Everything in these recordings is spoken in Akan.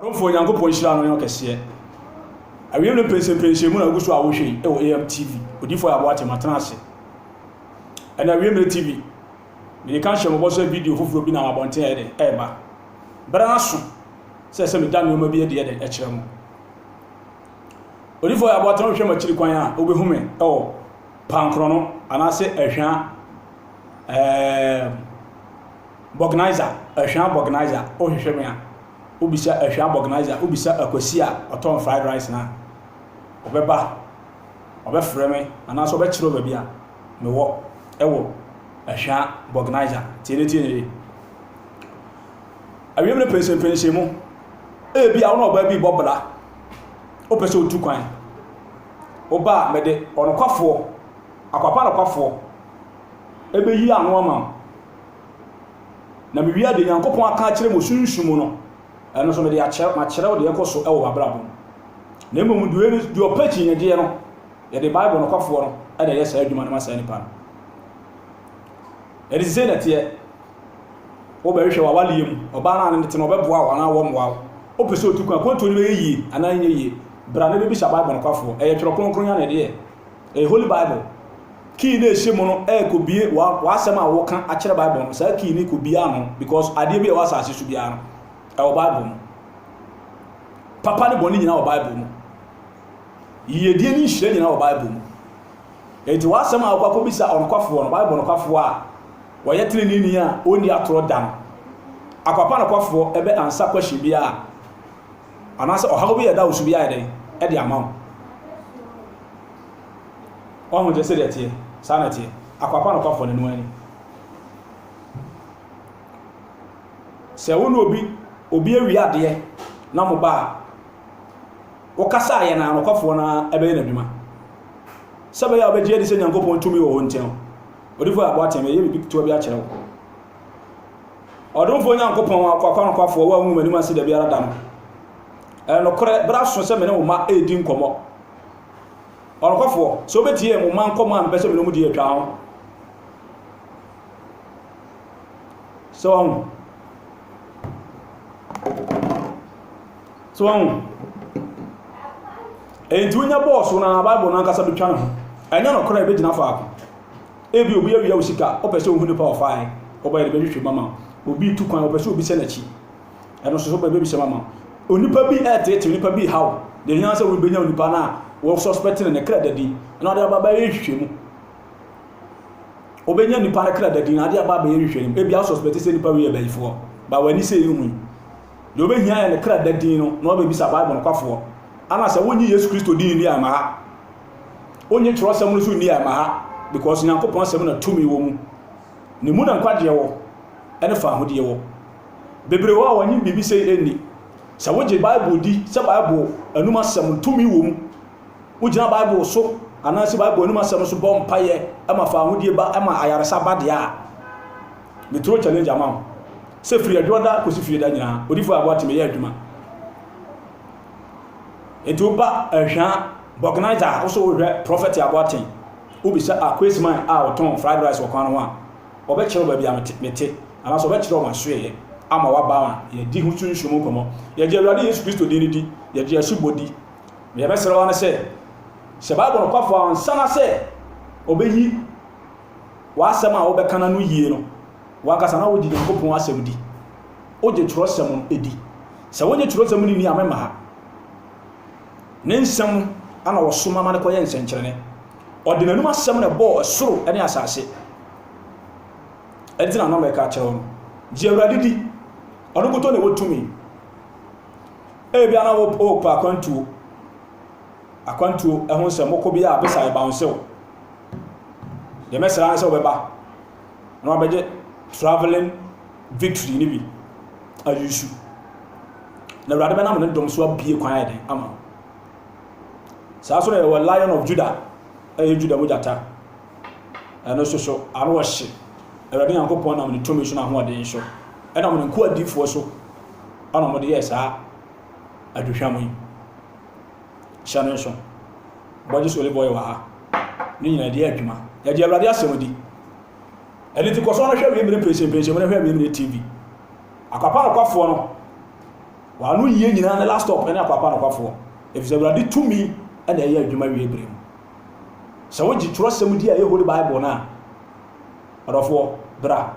Atumfoɔ Onyankopɔn nhyira no yɛ ɔkɛseɛ. Awieeɛ no mpensenpensen mu na wogu so a wohwɛ yi wɔ AMTV. Odiifo Ayabo Ate, matena ase. Ɛna awie mmerɛ TV. Mede ka hyɛ mɔbɔ sɛ video foforɔ bi nam abɔnten ɛyɛ dɛ ɛreba. Berɛ no aso sɛ ɛsɛ meda nneɛma bi adi yɛ dɛ ɛkyerɛ mo. Odiifo Ayabo Ate wohwɛ m'akyiri kwan a wobɛhu me ɛwɔ Pankrɔno anaasɛ Ahwia ɛɛm Bɔgnaiza, Ahwia Bɔgnaiza, wohwehwɛ me a. wo bisa ahwia bɔgnaiza wo bisa akwasi a ɔtɔn fried rice na ɔbɛba ɔbɛfrɛ me anaasɛ ɔbɛkyerɛ wo baabi a mewɔ ɛwɔ ahwia bɔgnaiza tie ne tie ne yie awiem no pɛnsɛmpɛnsɛn mu ebi a wo na ɔbaa bi bɔ bra wopɛ sɛ wotu kwan woba a mede ɔnokwafoɔ akwapa nokwafoɔ ɛbɛyi ano ama wo na mewia deɛ Nyankopɔn aka akyerɛ mo sunsum mu no, ɛno nso mede akyerɛ, makyerɛw deɛ ɛkɔ so wɔ m'abrabɔ mu. Na mmom deɛ ɔni, deɛ ɔpɛ kyinnyegyeɛ no, yɛde Bible nokwafoɔ no na ɛyɛ saa adwuma no ma saa nipa no. Ɛde sisei na ɛteɛ. Wobɛhwehwɛ w'awaleɛ mu, ɔbaa no a ne tena ɔbɛboa wo anaa wɔmmoa wo. Wopɛ sɛ otu kwan, akwantuo no bɛyɛ yie anaa ɛnyɛ yie, bra na bɛbisa Bible nokwafoɔ. Ɛyɛ twerɛ kronkron yi ara na ɛde yɛ. Ɛyɛ Holy Bible. Key no a ɛhyɛ mu no ɛrekɔbie w'asɛm a woka akyerɛ Bible no. Saa key no kɔbie ano because adeɛ bi a ɛwɔ asase so biara no ɛwɔ Bible mu. Papa ne bɔne nyinaa wɔ Bible mu. Yiyedie ne nhyira nyinaa wɔ Bible mu. Enti w'asɛm a wokɔ akɔbisa ɔnokwafoɔ no, Bible nokwafoɔ a wɔyɛ teneneeni a ɔnni atorɔ da no, akwapa nokwafoɔ ɛbɛ ansa question biara. anaasɛ ɔhaw bi a ɛda wo so bi ayɛ dɛn de ama wo. Wahu deɛ sɛdeɛ ɛteɛ, saa na ɛteɛ. Akoa pa nokwafoɔ no, ɛno ara ni. Sɛ wo ne obi, obi awie adeɛ na mo ba a, wokasa a yɛn a nokwafoɔ no ara bɛyɛ n'adwuma. Sɛ ɛbɛyɛ a wobɛgye adi sɛ Nyankopɔn tumi wɔ hɔ nti no, odifoɔ yɛ aboa tee me, yɛyɛ biribi ketewa bi akyerɛ wo. Ɔdomfoɔ Nyankopɔn akoakoa nokwafoɔ, wo a wongu m'anim ase da biara da no, ɛyɛ nokorɛ, berɛ aso sɛ me ne wo mma redi nkɔmmɔ. Ɔnokwafoɔ, sɛ wobɛtie mo mma nkɔmmɔ a mepɛ sɛ me ne wɔn di atwa ho. So wɔn so wɔn enti wonya bɔɔso na Bible no ankasa bɛtwa ne ho. Ɛnyɛ nokorɛ ɛbɛgyina faako. Ebia obi awia wo sika, wopɛ sɛ ohu nipa a ɔfaa he, wobɛyɛ dɛ bɛhwehwɛ mu ama wo. Obi retu kwan, wopɛ sɛ obi hyɛ n'akyi, ɛno nso so wobɛyɛ dɛ bɛbisa mu ama wo. Onipa bi reteetee onipa bi rehaw, deɛ hia ara sɛ wobɛnya onipa no a wo suspect no ne kra da din na wode aba abɛyɛ nhwehwɛ mu. Wobɛnya nipa no kra da din na wode aba abɛyɛ nhwehwɛ mu. Ebia wo suspect sɛ nipa wei yɛ bayifoɔ, ba w'ani sɛ ehu yi. Deɛ wobɛhia yɛ ne kra da din no na wabɛbisa Bible nokwafoɔ. Ana sɛ wonnye Yesu Kristo din nni a, mma ha. Wonnye kyerɛwsɛm no so nni a, ɛma ha, because Nyankopɔn asɛm na tumi wɔ mu. Ne mu na nkwagyeɛ wɔ, ɛne faahodie wɔ. Bebree wɔ a wɔnye biribi sei ɛnni. Sɛ wogye Bible di sɛ Bible anum asɛm no tumi wɔ mu, wogyina Bible so anaa se Bible anum asɛm no so bɔ mpaeɛ ɛma faahodie ba, ɛma ayaresa ba deɛ a, me throw challenge ama wo sɛ firi adwoɔda kosi fieɛda nyinaa, Odifoɔ Aboate meyɛ adwuma. Enti woba Ɛhwa Vulcanizer a, wo so wohwɛ Prophet Aboateng, wobisa Akwesman a ɔtɔn fried rice wɔ kwan no ho a, ɔbɛkyerɛ wo baabi a mete, anaasɛ ɔbɛkyerɛ wo m'asoɛeɛ ama woaba ho a, yɛdi ho sunsum mu nkɔmmɔ. Yɛgye Awurade Yesu Kristo din no di, yɛgye asubɔ di. Deɛ yɛbɛsrɛ wo ara ne sɛ, hyɛ Bible nokwafoɔ ansa na sɛ ɔbɛyi w'asɛm a wobɛka no ano yie no. W'ankasa na wogye Nyankopɔn asɛm di? Wogye twerɛsɛm no di? Sɛ wonye twerɛsɛm no nni a memma ha. Ne nsɛm no na wɔsoma ma no kɔyɛ nsɛnkyerɛnne. Ɔde n'anom asɛm na ɛbɔɔ ɛsoro ne asase. Ɛnti na na mɛka akyerɛ wo no. Gye Awurade di. Ɔno nkutoo na ɛwɔ tumi. Ebia na wopɛ akwantuo. Akwantuo ɛho nsɛm. Wokɔ bi a bisa ɛbansɛw. Deɛ mɛsra ne sɛ wobɛba. na wabɛgye travelling victory no bi ayusu na awurade bɛnam ne dɔm so abie kwan ayɛ den ama saa so na yɛwɔ lion of judah ɛyɛ judah mu gyata ɛno nso so ano ɔhye awurade nyankopɔn nam ne tumi so n'ahoɔden so ɛnam ne nkoadifoɔ so ɛna wɔde yɛ saa aduhwam yi hyɛ no nso bɔgye so olive oil wɔ ha ne nyinaa ɛde adwuma yɛde awurade asɛm di ɛne nti kɔ so na hwɛ wiemire mprɛsɛmprɛsɛm na hwɛ wiemire tv akwapa nokwafoɔ no wɔano yie nyinaa ne last stop ɛne akwapa nokwafoɔ ɛfiri sɛ awurade tumi ɛna ɛyɛ adwuma wie bere mu sɛ wogye twerɛsɛm di a ɛyɛ holy bible no a ɔdɔfoɔ bra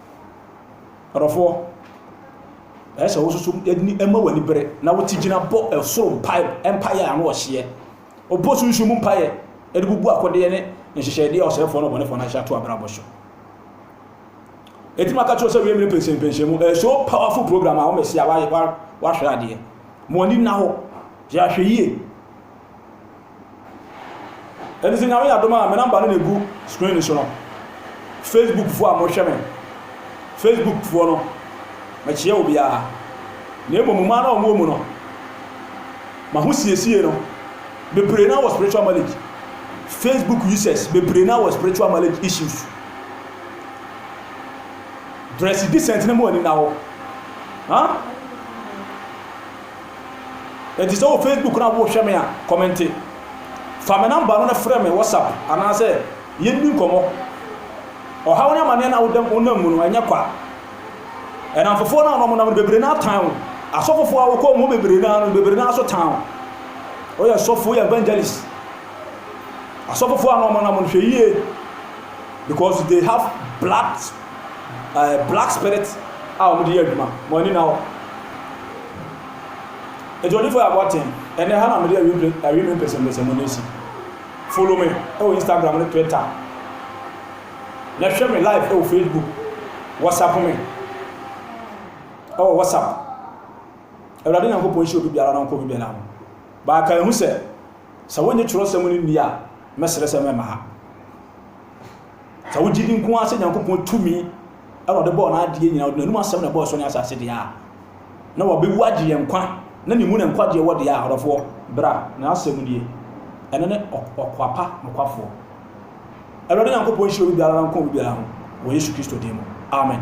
Ɔdɔfoɔ, ɛyɛ sɛ wososo ani ma w'ani bere na wote gyina bɔ ɛsoro mpae mpaeɛ a ano ɔhyeɛ. Ɔbɔ sunsun mu mpaeɛ de bubu akodeɛ ne nhyehyɛdeɛ a ɔsɛefoɔ ne ɔbɔnefoɔ no ahyehyɛ ato abrabɔ so. Ɛti maka kyerɛ sɛ wie mmere pɛnsɛmpɛnsɛn mu ɛyɛ so powerful program a wɔmɛsi a wahwɛ adeɛ. Mo ani nna hɔ, yɛahwɛ yie. Ɛno sɛ nyame yɛ adom a me number no na egu screen no so no. Facebook foɔ a mohwɛ me. Facebook foɔ no mɛkyeɛ wo biara. Na emu mo maa na ɔmo wɔ mu no. Ma ho siesie no. Bebree na wɔ spiritual marriage. Facebook users bebree na wɔ spiritual marriage issues. Dress decent na mu ani na hɔ. Huh? Enti sɛ wɔ Facebook na worehwɛ me a, kɔmɛnte. Fa me namba no na frɛ me WhatsApp anaasɛ yɛnni nkɔmmɔ. Ɔhaw ne amanneɛ no a woda wonam mu no, ɛnyɛ kwa. Ɛnamfofoɔ no a wɔnam no bebree no ara tan wo. Asɔfofoɔ a wokɔ wɔn hɔ bebree no ara no, bebree no ara nso tan wo. Woyɛ sɔfo, woyɛ evangelist. Asɔfofoɔ a wɔnam no, hwɛ yie because they have blood ɛɛ black spirit a wɔn de yɛ adwuma wɔn ani na hɔ ɛdi onifo yɛ abɔnten ɛnɛ ha na wɔn de awi mpe awi mi mpɛsɛmpɛsɛ mu na esi follow me ɛwɔ e instagram ne twitter na hwɛ me live ɛwɔ e facebook whatsapp me ɛwɔ e whatsapp awurade nyankopɔn nhyɛ obi biara na ɔnkɔ obi biara ho baaka ehu sɛ sɛ wɔnyɛ twerɛsɛm no nni a mɛsrɛ sɛ mɛma ha Sɛ wogye di nko ara sɛ Nyankopɔn tumi na ɔde bɔɔ n'adeɛ nyinaa, ɔde n'anom asɛm na ɛbɔɔ ɛsoro ne asase deɛ a, na wabewu agye yɛn nkwa, na ne mu na nkwagyeɛ wɔ deɛ a, ɔdɔfoɔ, bra, n'asɛm nie. Ɛno ne ɔkwapa nokwafoɔ. Awurade Nyankopɔn nhyira obi biara na nka obi biara ho wɔ Yesu Kristo din mu. Amen.